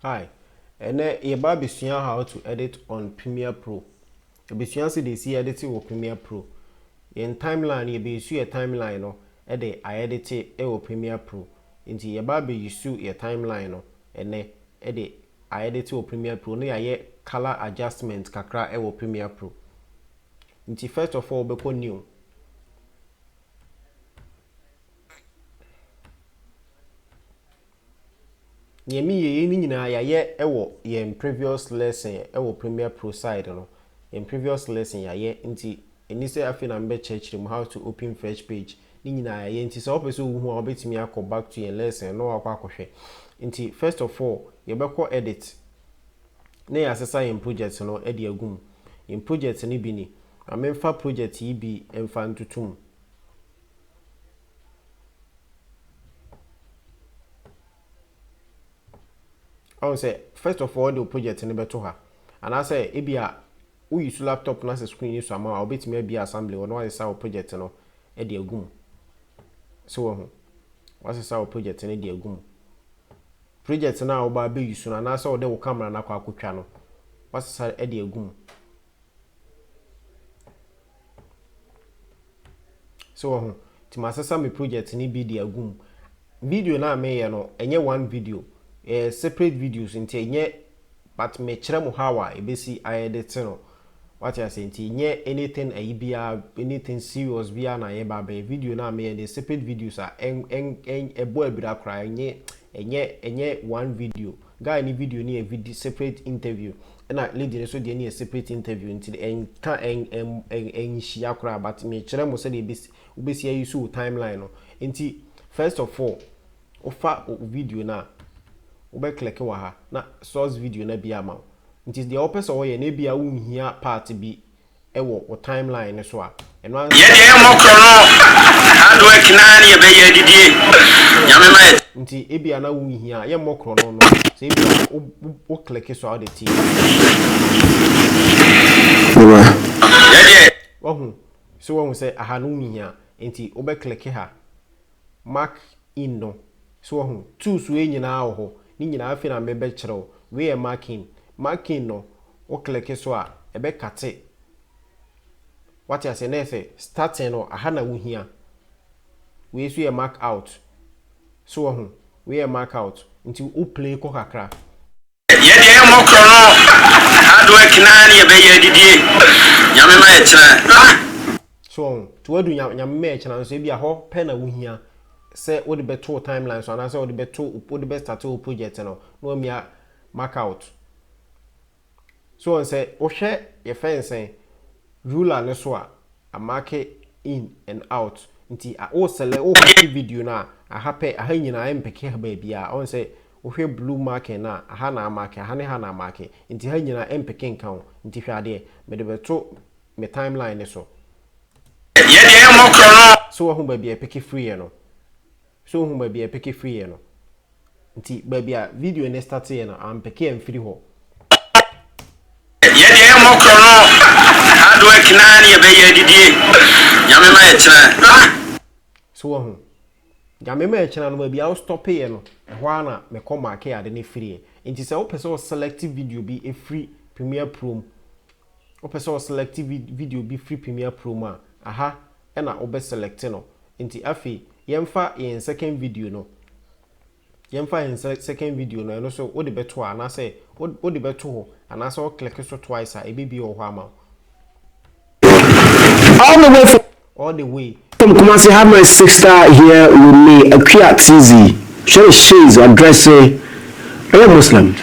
Hi, ɛnɛ yɛba abɛsua how to edit on Premiere Pro. Ebesua sɛ desi yɛde te wɔ Premiere Pro. Yɛn timeline no yebesu yɛ timeline no de ayɛde te wɔ Premiere Pro. Nti yɛba abesu yɛ timeline no ɛnɛ de ayɛde te wɔ Premiere Pro na yɛayɛ colour adjustment kakra wɔ Premiere Pro. Nti first of all wobɛkɔ new. Neɛ me yɛ yei no nyinaa yayɛ wɔ yɛn previous lesson wɔ premier pro side no yɛn previous lesson yayɛ nti ɛni sɛ afei na me bɛ kyerɛ kyerɛ mu how to open fresh page ne nyinaa yayɛ nti sɛ wɔpɛ sɛ owu ho a wɔbɛtumi akɔ back to yɛn lesson na wakɔ akɔhwɛ nti first of all yɛbɛkɔ edit na yɛ asesa yɛn project no de agu mu yɛn project no bi ni ma menfa project yi bi nfa ntutu mu ɔn sɛ first of all de wo project no bɛto ha anaasɛ ebi a woyi so laptop no asɛ screen yi so ama a wobɛtumi abie assembly hɔ na wasesa wo project no de agu mu sɛ wahu wasesa wo project no de agu mu project no a wobaa bɛyi so no anaasɛ wode wo camera no akɔ akɔtwa no wasesa de agu mu So wɔ ho? Nti masesa me project ne bi de agu mu. Video no a meyɛ no, ɛnyɛ one video. Ɛyɛ separate videos nti ɛnyɛ but mekyerɛ mo how a ɛbɛsi ayɛ de te no. Wate aseɛ? Nti ɛnyɛ anything ayi biara, anything serious biara na yɛba abɛyɛ. Video no a meyɛ no yɛ separate videos a ɛbɔ abira koraa. Ɛnyɛ ɛnyɛ ɛnyɛ one video. Guy ne video no yɛ vid separate interview ɛna lady no nso deɛ no yɛ separate interview nti no ɛnka ɛn ɛn ɛn ɛnhyia koraa but mekyerɛ mo sɛdeɛ ɛbɛsi wobɛsi ayi so wo timeline no nti first of all wofa wo video no a wobɛ click wɔ ha na source video no abie ama wo nti deɛ wopɛ sɛ wɔyɛ no ebia wonhia part bi wɔ wo timeline no so a, ɛno ara nso Yɛdeɛ yɛmmɔ korɔ no hard work naa ne yɛbɛyɛ adidie Nyame ma yɛ. Nti ebia na wo nhia yɛmmɔ korɔ no no sɛ ebia wo wo click so a wode te Bra. Yɛdeɛ. Wahu so wahu sɛ aha no wo nhia nti wobɛ click ha mark in no. So wahu? Tools wei nyinaa wɔ hɔ. Ne nyinaa, afei na merebɛkyerɛ wo. Wei yɛ mark in. Mark in no, wo click so a, ɛbɛ kate. Wate aseɛ? Na yɛ sɛ starting no, aha na wohia. Wei nso yɛ mark out. So wahu? Wei yɛ mark out. Nti wo play kɔ kakra. Yɛ deɛ yɛmmɔ korɔ no hard work naa ne yɛbɛyɛ adidie Nyame ma yɛkyena ah. So wɔn nti wadu nya Nyame ma yɛkyena nso ebia hɔ pɛ na wohia sɛ wode bɛto wo timeline so anaasɛ wode bɛto wode bɛ starte wo project no na wamia mark out So wɔn sɛ wohwɛ yɛfɛ no sɛn ruler no so a a marke in and out nti a wo sɛlɛ wo hake video no a aha pɛ aha nyinaa ɛmpɛke ha baabiara wɔn sɛ Wohwɛ blue marking no a, aha na amake, aha ne ha na amake, nti ha nyinaa ɛmpeke nka ho, nti hwɛ adeɛ, mede bɛto me timeline no so. Yɛ deɛ ɛmmɔ korɔ no. So woahu baabi a ɛpeke firiiɛ no? So wohu baabi a ɛpeke firiiɛ no? Nti baabi a video no starteeɛ no, ampeke amfiri hɔ. Yɛ deɛ ɛmmɔ korɔ no. Hard work no ara ne yɛbɛyɛ adidie. Nyame ma yɛtena. So woahu? Nyame ma ɛkyena no baabi a wo stɔpe yɛ no ɛhɔ ara na me kɔ make ade no firi ɛ. Nti sɛ wo pɛ sɛ wo select video bi firi Premiere Pro mu, wo pɛ sɛ wo select video bi firi Premiere Pro mu a, aha na wo bɛ select no. Nti afei yɛmfa yɛn second video no. Yɛmfa yɛn sɛ second video no, ɛno nso wode bɛto a, anaasɛ wode bɛto hɔ, anaasɛ wo click so twice a, ɛbɛbie wɔ hɔ ama wo. All the way from All the way. from Kumasi have my sister here with me Akua TZ. Hwɛ ne shades ɔdrɛse ɔyɛ Muslim.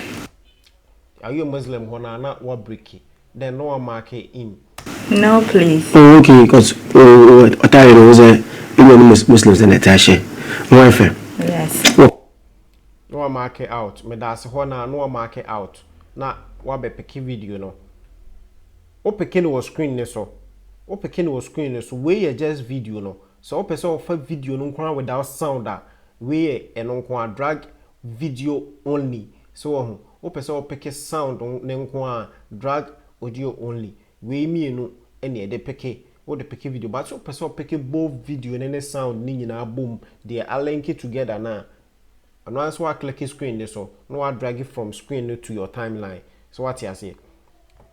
Ɔyɛ Muslim hɔ no a na wa break then na wa mark in. No please. Oh okay because ɔtaa yɛ no ho sɛ ɛnyɛ no Muslims na ɛte ahyɛ no ho ɛfɛ. Yes. Na wa mark out meda ase hɔ na na wa mark out na wa bɛ peke video no. Wo peke no wɔ screen ne so. Wo peke no wɔ screen ne so wei yɛ just video no Sɛ wopɛ sɛ ɔfa video no nko ara without sound a, wei yɛ ɛno nko ara, drag video only, so wahu? Wopɛ sɛ wo peke sound no nko ara a, drag audio only, wei mmienu na yɛde peke, wode peke video, but sɛ wopɛ sɛ wo peke both video no ne sound no nyinaa bom deɛ a linke together no a, Ɛno ara ne sɛ woakleke screen no so na woadrage from screen no to your timeline. So woate aseɛ?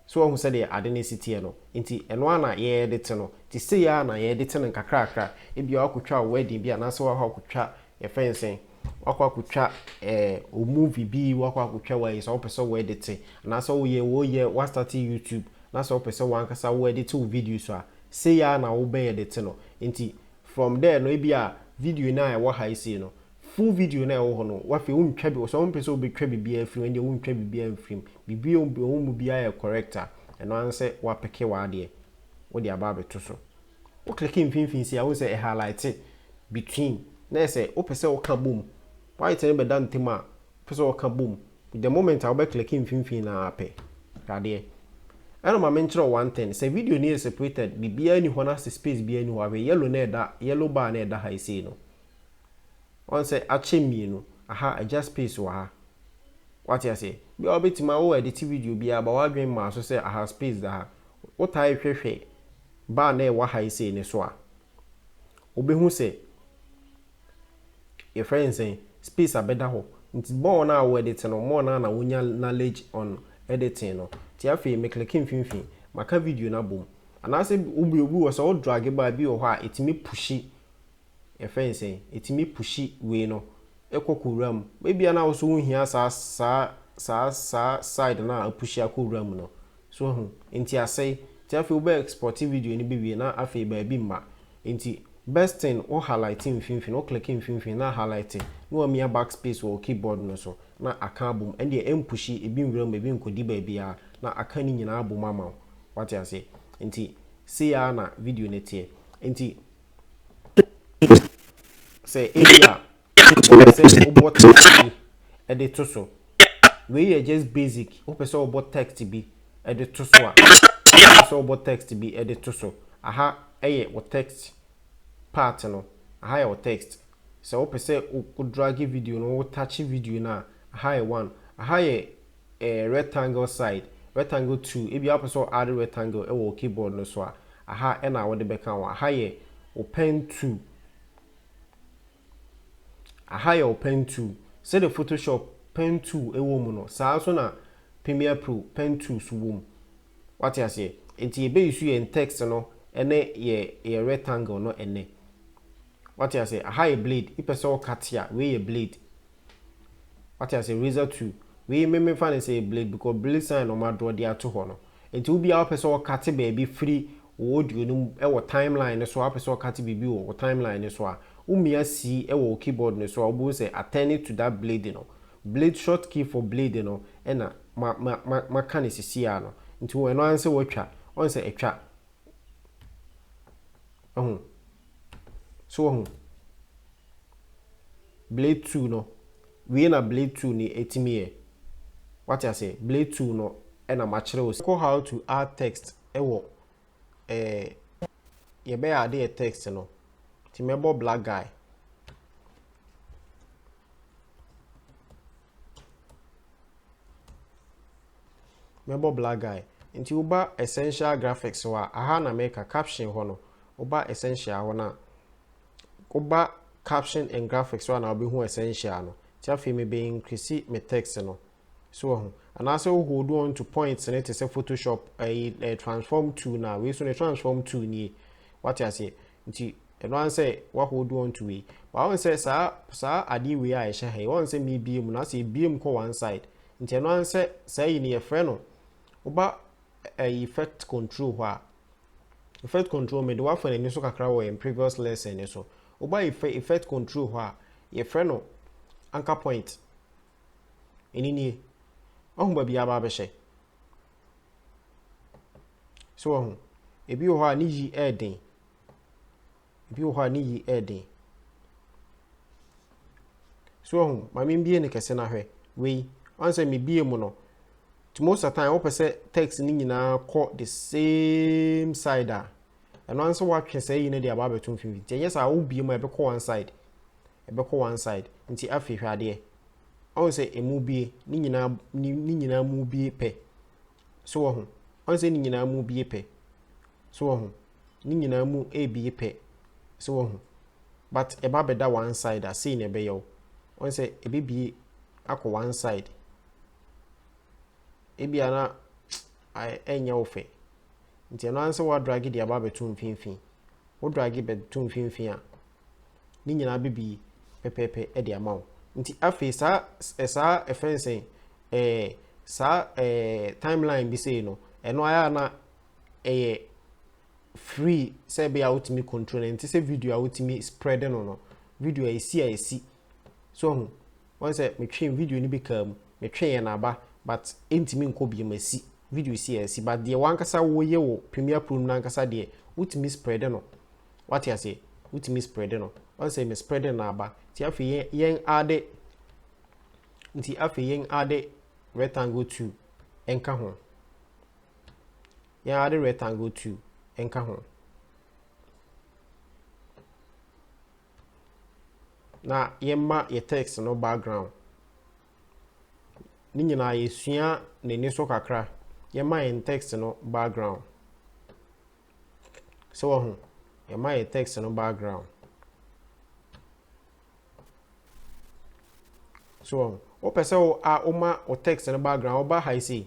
So woahu sɛdeɛ ade no si teɛ no? Nti ɛno ara na yɛde te no. Nti sei ara na yɛde te no nkakrakra. Ebia woakɔtwa wo wedding bi anaasɛ woakɔ akɔtwa yɛfrɛ no sɛn, woakɔ akɔtwa eh, wo movie bi, woakɔ akɔtwa w'ayi sɛ wopɛ sɛ woɛde te, anaasɛ woyɛ woyɛ woastate YouTube na sɛ wopɛ sɛ wankasa woɛde te wo videos a, sei ara na wobɛyɛ de te no. Nti From there no ebia video no a ɛwɔ ha yi sei no full video no a ɛwɔ hɔ no wafei wontwa bi ɔsɛ wompɛ sɛ wobɛtwa biribiara afiri mu ɛndeɛ wontwa biribiara mfiri mu biribiara ɔwɔ mu biara yɛ correct a ɛno ara ne sɛ woapeke w'adeɛ wode aba abɛto so wo click mfimfini sei a wohu sɛ ɛ highlight between na ɛsɛ wopɛ sɛ woka bom white no bɛda ntam a Pɛ sɛ ɔka bom the moment a wobɛ click mfimfini no ara pɛ. Hwɛ adeɛ. Ɛna ma menkyerɛ wo one thing, sɛ video no yɛ separated, biribiara nni hɔ na se space biara nni hɔ a, hwɛ yellow no a ɛda, yellow bar no a ɛda ha yi sei no. Woahu sɛ akyɛ mmienu, aha agya space wɔ ha. Woate aseɛ? Bi a wobɛtumi a wo edit video bi a but w'adwene mmaa so sɛ aha space da ha. Wotaa hwɛ hwɛ bar no a ɛwɔ ha yi sei no so a, Wobehu sɛ, yɛfrɛ no sɛn, space a bɛda hɔ. Nti more no a wo edit no, more no a na wonya knowledge on editing no. Nti afei me click mfimfini, maka video no abom. Anaasɛ wobue obi wɔ sɛ wo drage ba bi wɔ hɔ a etumi pushi, yɛfrɛ no sɛn, etumi pushi wei no kɔ kɔ wura mu. Ebia na wo so wonhia saa saa saa saa side no a apushi akɔ wura mu no. So wahu? Nti asɛe. Nti afei wobɛ export video no bɛwie na afei baabi mma. Nti best thing wo highlight mfimfini, wo click mfimfini na highlight na wamia back space wɔ wo keyboard no so na aka abom. Ɛndeɛ ɛmpushi ebi nwura mu, ebi nkɔdi baabiara na aka ne nyinaa abom ama wo. Wate aseɛ? Nti sei ara na video no teɛ. Nti sɛ ebia. Wopɛ sɛ wobɔ text bi de to so. Wei yɛ just basic. Wopɛ sɛ wobɔ text bi de to so a, wopɛ sɛ wobɔ text bi de to so. Aha yɛ wo text part no. Aha yɛ wo text. Sɛ wopɛ sɛ wo drage video no, wo touch video no a, aha yɛ one. Aha yɛ eh, rectangle side, rectangle two. Ebi wopɛ sɛ wo add rectangle wɔ wo keyboard no so a, aha na wode bɛka ho. Aha yɛ wo pen two. Aha yɛ wo pen tool. Sɛdeɛ Photoshop pen tool wɔ mu no, saa nso na Premier Pro pen tools wɔ mu. Wate aseɛ? Nti yɛbɛ use yɛn text no ne yɛ yɛ rectangle no ɛnnɛ. Wate aseɛ? Aha yɛ blade. Wopɛ sɛ wo cut a, wei yɛ blade. Wate aseɛ? Razor tool. Wei me mefa no sɛ ɛyɛ blade because blade sign na wɔn adrɔ de ato hɔ no. Nti obi a ɔpɛ sɛ ɔkate baabi firi wo audio no mu wɔ time line no so a, wopɛ sɛ ɔkate biribi wɔ wo time line no so a, womia C wɔ wo keyboard no so a, wobɛhu sɛ attending to that blade no, blade short key for blade no na ma ma ma maka no sisi ara no. Nti hu ɛno ara ne sɛ woatwa. Woahu sɛ atwa? Wahu? So wahu? Blade two no. Wei na blade tool no ɛtumi yɛ. Wate aseɛ? Blade tool no na makyerɛ wo. Kɔ how to add text wɔ eh, yɛbɛ add yɛ text no. Nti mɛbɔ black guy. mɛbɔ black guy nti woba essential graphics hɔ a aha na mɛka caption hɔ no woba essential hɔ no a Woba caption and graphics hɔ a na wobɛhu essential no. Nti afei me bɛ increase me text no. So wahu? Anaasɛ wo hold on to points no te sɛ photoshop ɛyi eh, eh, transform to na wei so no transform to nie. Wate aseɛ? Nti ɛno ara sɛ wa hold on to wei. Ba wɔn sɛ saa saa adeɛ wei a ɛhyɛ ha yi wɔn sɛ mi bie mu na sɛ ebie mu kɔ one side. Nti ɛno ara sɛ saa yi no yɛfrɛ no woba ɛyi fɛt kɔntro hɔ a fɛt kɔntro mede wafa n'ani so kakra wɔ yɛn previous lesson ne so woba yi fɛ fɛt kɔntro hɔ a yɛfrɛ no anchor point ɛni nie ɔho baabi aba abɛhyɛ so ɔho ebi wɔ hɔ a ne yi ɛɛden Ebi wɔ hɔ a ne yi yɛ den. So wahu? Ma mebue no kɛse no ahwɛ. Wei, ɔn sɛ mebue mu no, to most of the time wopɛ sɛ text no nyinaa kɔ the same side a, ɛno ano sɛ woatwe saa yi no de aba abɛto mfimfini. Nti ɛnyɛ saa wobue mu a ɛbɛkɔ one side, ɛbɛkɔ one side. Nti afei hwɛ adeɛ. Ɔn sɛ ɛmu bue, ne nyinaa, ne nyinaa mu bue pɛ. So wɔ ho? Ɔn sɛ ne nyinaa mu bi ye pɛ. So wɔ ho? Ne nyinaa mu ebi ye pɛ. So wɔ ho? But ɛba bɛda one side a, sei na ɛbɛyɛ wo. Ɔn sɛ ɛbɛbie akɔ one side. Ebia na ɛnyɛ wo fɛ. Nti ɛno ara sɛ woadrage de aba abɛto mfimfini. Wodrage bɛto mfimfini a, ne nyinaa bɛ bi pɛpɛɛpɛ de ama wo. Nti afei saa eh, saa ɛfɛ eh, sɛn eh, saa eh, timeline bi sei no ɛno ayɛ a na ɛyɛ eh, free sɛ ɛbɛyɛ a wotumi control no nti sɛ video a wotumi spread no no video a ɛsi a ɛsi So wahu? Wahu sɛ metwee video no bi kaa mu, metweeɛ na aba but ɛntumi nkɔ bio, masi video si a asi but deɛ wankasa woyɛ wɔ Premiere Pro no mu nankasa deɛ wotumi spread no, wate aseɛ? Wotumi spread no, wahu sɛ me spread no na aba, nti afei yɛn yɛn ade nti afei yɛn ade rectangle 2 nka ho yɛn ade rectangle 2 nka ho na yɛmma yɛ text no background. Ne nyinaa yɛsua n'ani so kakra. Yɛmma yɛn text no background. Sɛ wɔho, yɛmma yɛ text no background. So wɔn, wopɛ sɛ wo a woma wo text no background, woba ha yi sei.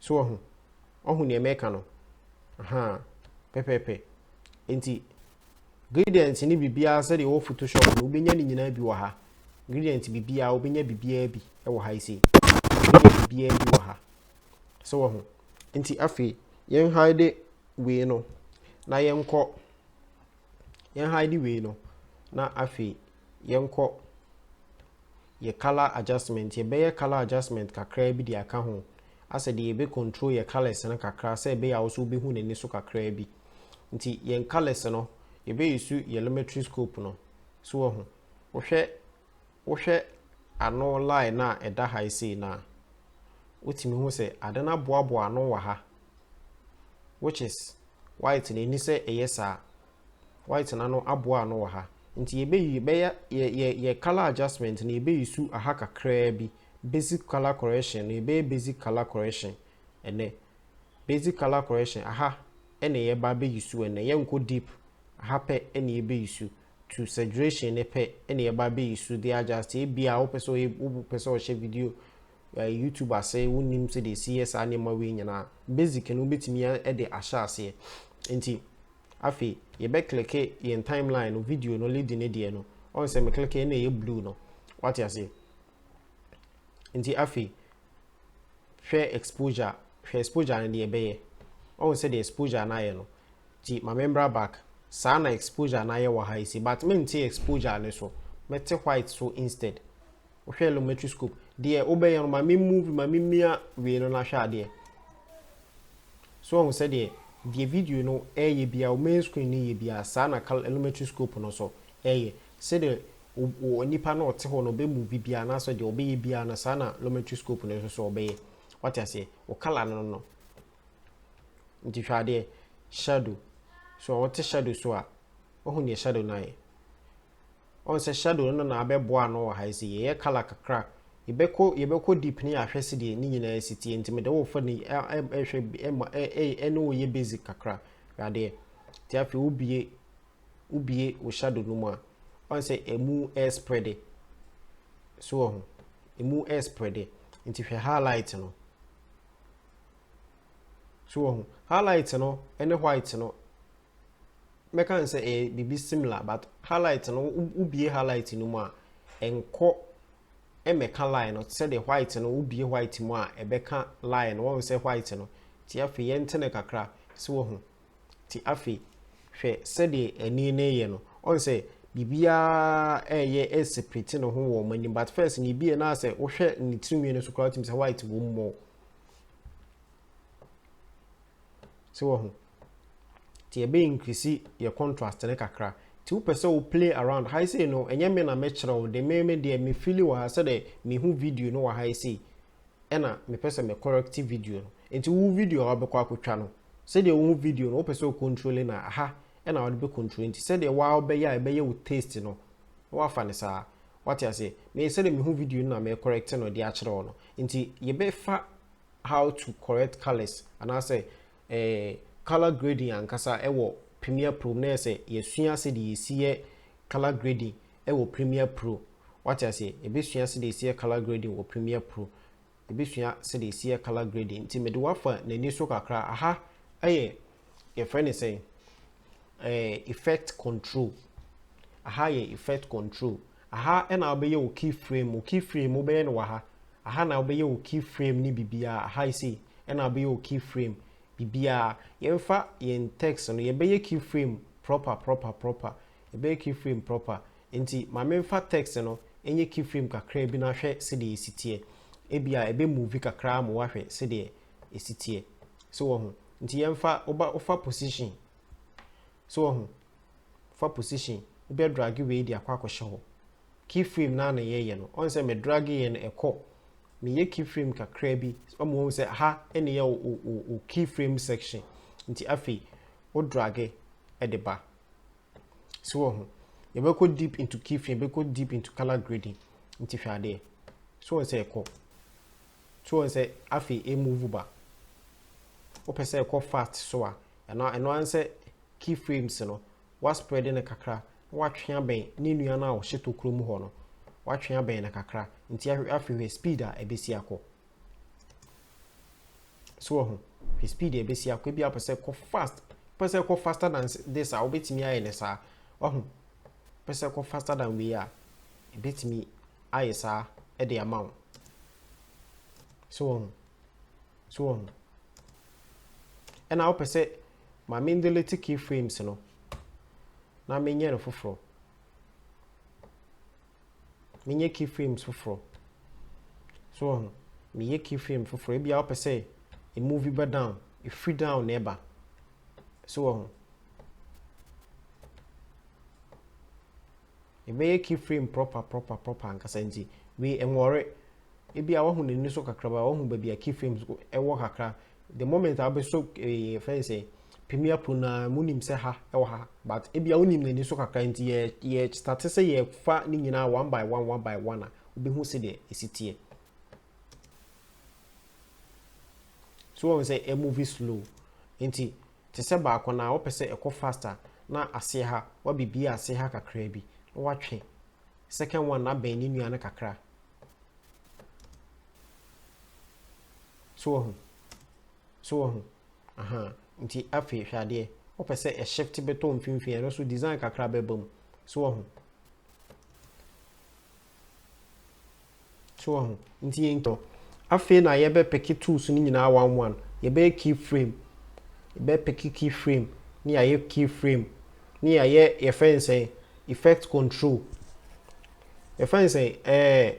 So wahu? Wahu nea mɛka no? Ahaa, pɛpɛɛpɛ. Enti, gradient ne biribiara sɛdeɛ ɛwɔ Photoshop no, wobɛnya ne nyinaa bi wɔ ha. Gradient biribiara, wobɛnya biribiara bi wɔ ha yi sei. Wobɛnya biribiara bi wɔ ha. So wahu? Enti afei, yɛn hide wei no, na yɛnkɔ Yɛn hide wei no na afei yɛnkɔ yɛ colour adjustment. Yɛbɛyɛ colour adjustment kakraa bi de aka ho asɛ deɛ yɛbɛ control yɛ colours no kakra sɛ ɛbɛyɛ a wo so wobɛhu n'ani so kakraa bi. Nti yɛn colours no yɛbɛ use yɛ lumetri scope no. So wahu? Wohwɛ Wohwɛ ano line no a ɛda ha yi sei no a, wotumi hu sɛ ade no aboaboa ano wɔ ha, which is white no ɛni sɛ ɛyɛ saa. White no ano aboa ano wɔ ha. Nti yɛbɛyi bɛyɛ yɛ yɛ yɛ colour adjustment no yɛbɛyi su aha kakraa bi. Basic colour correction no yɛbɛyɛ basic colour correction ɛnɛ. Basic colour correction aha ɛna yɛba abɛyi su ɛnɛ. Yɛnkɔ deep, aha pɛ ɛna yɛbɛyi su. to saturation no pɛ na yɛba bɛyi so de adjust yɛ. Ebia wopɛ sɛ ɔyɛ wopɛ sɛ ɔhyɛ video ɛɛ YouTube ase, wonnim sɛdeɛ ɛsi yɛ saa nneɛma wei nyinaa. Basic no wobɛtumi de ahyɛ aseɛ. Nti afei yɛbɛ kleke yɛn timeline no, video no lead no deɛ no, ɔhu sɛ me kleke na ɛyɛ blue no, wate aseɛ. Nti afei hwɛ exposure hwɛ exposure no deɛ ɛbɛyɛ ɔhu sɛdeɛ exposure no ayɛ no nti ma membra back saa na exposure no ayɛ wɔ ha yi si but mente exposure no so mɛte white so instead wohwɛ lumetri scope deɛ wobɛyɛ no ma me move ma me mia wei no nahwɛ adeɛ so ɔhu sɛdeɛ deɛ video no ɛyɛ bia wo main screen no yɛ bia saa na lumetri scope no so ɛyɛ sɛdeɛ wo nipa no a ɔte hɔ no ɔbɛ move biara anaasɛ deɛ ɔbɛyɛ biara no saa na lometry scope no nso so ɔbɛyɛ wate aseɛ wo color no no nti hwɛ adeɛ shadow so ɔte shadow so a wahu deɛ shadow no ayɛ ɔn sɛ shadow no na abɛboa no wɔ ha sɛ yɛyɛ color kakra yɛbɛkɔ yɛbɛkɔ deep ne yɛahwɛ sɛ deɛ ne nyinaa si tie nti mede wofa ne ɛhwɛ ɛma ɛne woyɛ basic kakra hwɛ adeɛ nti afei wobie wo bue wo shadow no mu a woahu sɛ ɛmu ɛyɛ spreade so wɔ ho ɛmu ɛyɛ spreade nti hwɛ highlight no so wɔ ho highlight no ɛne white no mɛka n sɛ ɛyɛ biribi similar but highlight no wo bue highlight no mu a ɛnkɔ ɛmɛka line no sɛdeɛ white no wo bue white mu a ɛbɛka line no wɔn sɛ white no ti afei yɛntene kakra so wɔ ho Te afei, hwɛ sɛdeɛ ɛnne no reyɛ no. Ɔn sɛ, biribiara reyɛ reseprete ne ho wɔ wɔn anim. But first no, ebia na sɛ wohwɛ ne tirinwi no so koraa, wotumi sɛ white wɔ mu more. So wɔ ho. Te ɛbɛ increase yɛ contrast ne kakra. Te wopɛ sɛ wo play around. Ha sei no, ɛnyɛ me na mɛkyerɛ wo de, me me deɛ me fili wɔ ha sɛdeɛ mehu video no wɔ ha sei. ɛna mepɛ sɛ me correct video no nti wo video a wabɛkɔ akɔtwa no sɛdeɛ wo video no wopɛ sɛ wo control no a ha ɛna wode bɛ control nti sɛdeɛ waa wobɛyɛ a ɛbɛyɛ wo taste no na wafa no saa wate aseɛ me sɛdeɛ mehu video no na me correct no de akyerɛ wo no nti yɛbɛfa how to correct colors anaasɛ eh, color grading ankasa ɛwɔ Premiere Pro mu na yɛ sɛ yɛsua sɛdeɛ yɛsi yɛ color grading wɔ Premiere Pro. Wate aseɛ? Yɛbɛsua sɛdeɛ yɛsi yɛ colour grading wɔ Premiere Pro. Yɛbɛsua sɛdeɛ yɛsi yɛ colour grading. Nti mede wo afa n'ani so kakra. Aha yɛ, yɛfrɛ no sɛn? Ɛɛ, effect control. Aha yɛ effect control. Aha na wobɛyɛ wo key frame. Wo key frame wobɛyɛ no wɔ ha. Aha na wobɛyɛ wo key frame ne biribiara. Aha yi sei na wobɛyɛ wo key frame biribiara. Yɛmfa yɛn text no, yɛbɛyɛ key frame proper proper proper. Ɛbɛyɛ key frame proper. Nti ma me nfa text no nyɛ key frame kakraa bi na hwɛ sedeɛ ɛsi teɛ. Ebia ɛbɛ move kakraa ma woahwɛ sedeɛ ɛsi teɛ. So wahu? Nti yɛnfa, woba, wofa position. So wahu? Fa position. Wobɛ drage wei de akɔ akɔhyɛ hɔ. Key frame no ara na yɛyɛ no. Ɔn sɛ me drage yɛ no ɛkɔ. Me yɛ key frame kakraa bi ama wahu sɛ ha na yɛ wo, wo, wo key frame section. Nti afei wo drage de ba. So wɔ ho? Yɛbɛkɔ deep into key frame, yɛbɛkɔ deep into color grading. Nti hwɛ adeɛ. So wɔn sɛ ɛkɔ. So wɔn sɛ afei e move ba. Wopɛ sɛ ɛkɔ fast so a, ɛno ɛno ara sɛ key frames no, wa spread no kakra, na watwe abɛn ne nua no a ɔhyɛ tokuro mu hɔ no, watwe abɛn no kakra. Nti afei hwɛ speed a ɛbɛsi akɔ. So wɔ ho? Hwɛ speed a ɛbɛsi akɔ ebi apɛ sɛ kɔ fast pɛ sɛ kɔ faster than this a wobɛtumi ayɛ ne saa wahu pɛ sɛ kɔ faster than wei a ɛbɛtumi ayɛ saa de ama wo so wɔ ho so wɔ ho ɛna wopɛ sɛ ma mendelete key frames no na menyɛ no foforɔ menyɛ keyframes foforɔ. So wahu? Meyɛ keyframe foforɔ. Ebia wopɛ sɛ emuvi ba down, efiri down na ɛba. So wahu? Ebɛyɛ keyframe proper proper proper ankasa nti wei ɛnwɔre. Ebia wahu n'ani so kakraba, wahu baabi a keyframes ɛwɔ kakra. the moment a wobɛsɔ eh, yɛfrɛ no sɛ premier pro no a monim sɛ ha ɛwɔ ha but ebia wonim n'ani so kakra nti yɛ yɛ start sɛ yɛfa ne nyinaa one by one one by one a wobɛhu sɛdeɛ ɛsi teɛ so wɔn sɛ ɛ movie slow nti te sɛ baako na wɔpɛ sɛ ɛkɔ fast a na ase ha wabibie ase ha kakra bi na watwe second one na bɛn ne nua no kakra So wahu? So wahu? Ahaa. Nti afei, hwɛ adeɛ. Wopɛ sɛ ɛ shift bɛtɔ mfimfini, ɛno nso design kakra bɛba mu. So wahu? So wahu? Nti yɛn tɔ. Afei na yɛbɛpeke tools no nyinaa one one. Yɛbɛyɛ key frame. Yɛbɛpeke key frame, ne yɛayɛ key frame, ne yɛayɛ yɛfrɛ no sɛn, effect control. Yɛfrɛ no sɛn, ɛɛ,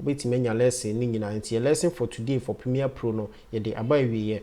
Wobɛtumi anya lɛsen no nyinaa. Nti yɛ lesson for today for Premier Pro no yɛde aba awieɛ.